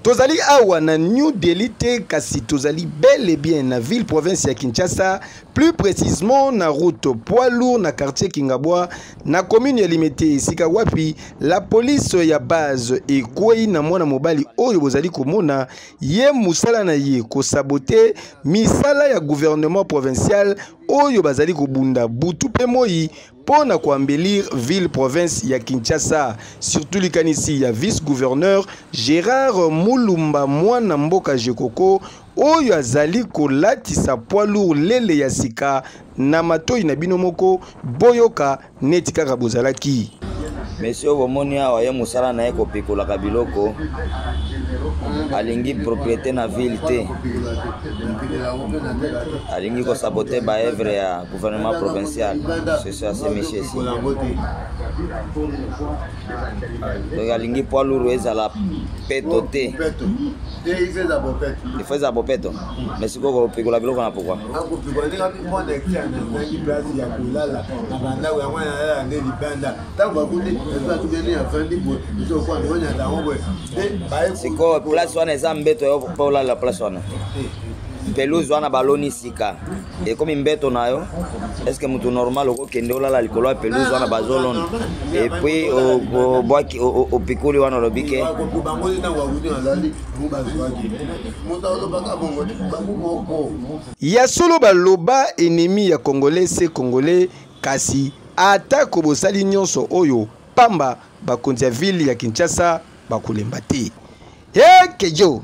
tozali awa na new delhi te kasi tozali bel et bien na ville province ya kinshasa plus précisement na route poids lourd na quartier kingabwa na commune ya limete esika wapi la police ya base ekwei na mwana mobali oyo bozali komona ye mosala na ye kosabote misala ya gouvernement provincial oyo bazali kobunda butu mpe moi Mpo na ko embelir ville province ya Kinshasa, surtout likanisi ya vice-gouverneur Gerard Mulumba mwana mboka Gecoco oyo azali kolatisa poids lourd lele ya sika na matoyi na bino moko boyoka neti kaka bozalaki. Monsieur oyo bomoni awa ye mosala na ye kopikolaka biloko, alingi propriete na ville te. alingi kosabote baevre ya gouvernement provincial soso asemisi esi donc alingi poids lourd ezala peto te ifo ezala bopeto mais sikoyo kopikola biloko na pokwa sikoyo place wana eza mbeto yo mpe olala place wana pelouse wana baloni sika ekomi mbeto na yo estce motu normal okokende olala likolo ya pelouse wana bazolona epuis obwaki opikuli wana olobi ke ya solo baloba enemi ya congolais se congolais kasi atako bosali nyonso oyo pamba bakonzi ya ville ya kinshasa bakolemba te ekejo